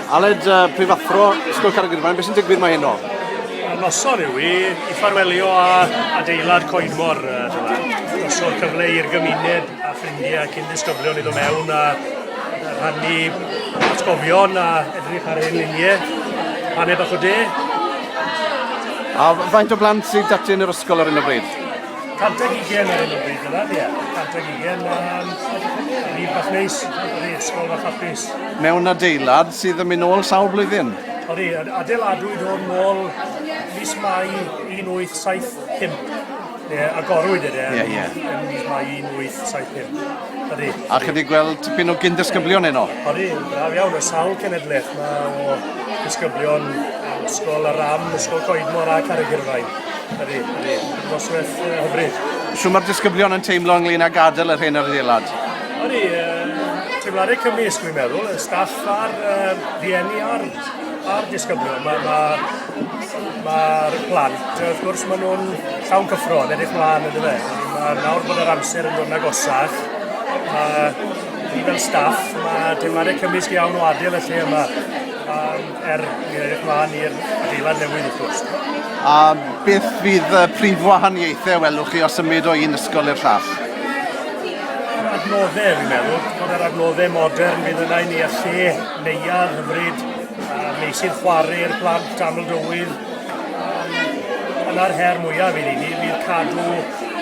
Aled, uh, prifathro, Ysgol Carrygyrfaen, beth sy'n digwydd mae heno? Noson yw i, i ffarwelio a adeilad Coedmor, uh, noson cyfle i'r gymuned a ffrindiau ac i'n disgyblion i ddod mewn a rhannu atgofion a edrych ar ein luniau, paned bach o de. A faint o blant sydd dati yn yr ysgol ar hyn o bryd? Canteg i gen ar hyn o bryd yna, ie. Canteg i gen, um, rhif bach neis, ydy, ysgol bach hapus. Mewn adeilad sydd yn mynd ôl sawl blwyddyn? Ydy, adeiladwyd o'n môl mis Mai 1875. Ie, agorwyd ydy, e, yeah, yeah. yn mis Mai 1875. Ydy. A chi wedi gweld tipyn o gyn-dysgyblion yno? Ydy, braf iawn, y sawl cenedlaeth. Mae o disgyblion ysgol y ram, ysgol coedmor a carreg irfain. Ydy, ydy. Noswaith uh, hyfryd. Sut mae'r disgyblion yn teimlo ynglyn â gadael yr hyn ar ddeilad? Ydy, uh, teimladau cymys, dwi'n meddwl, y staff a'r uh, rieni a'r, ar disgyblion. Mae'r ma, ma, ma plant, wrth gwrs, maen nhw'n llawn cyffro, yn edrych mlaen yn dweud. Mae nawr bod yr amser yn dod yn agosach. Mae ni fel staff, mae teimladau cymysg iawn o adael y lle yma. Um, Er i edrych mlaen i'r adeilad newydd wrth gwrs. A beth fydd y prif wahaniaethau welwch chi os ymwyd o un ysgol i'r llall? Adnoddau, fi'n meddwl, bod yr adnoddau modern fydd yna i ni a lle neuad hyfryd, meysydd chwarae i'r plant, aml dywydd. Yna'r her mwyaf i ni, fydd cadw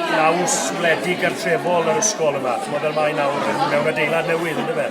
naws wledig gartrefol yr ysgol yma, chymod fel mae nawr mewn adeilad newydd, ynddo fe?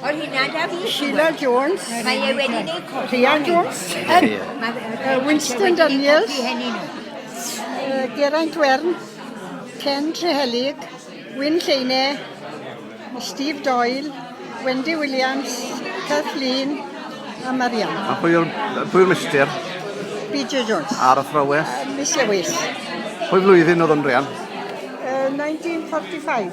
O'r hynna da fi. Sheila Jones. Mae e wedi neud cofio. Rhian Jones. Winston Daniels. Geraint Wern. Ken Trehelig. Wyn Lleine. Steve Doyle. Wendy Williams. Kathleen. A Marian. A pwy yw'r mister? Peter Jones. Ar y thrawes? Miss Lewis. Pwy flwyddyn oedd o'n Rhian? 1945.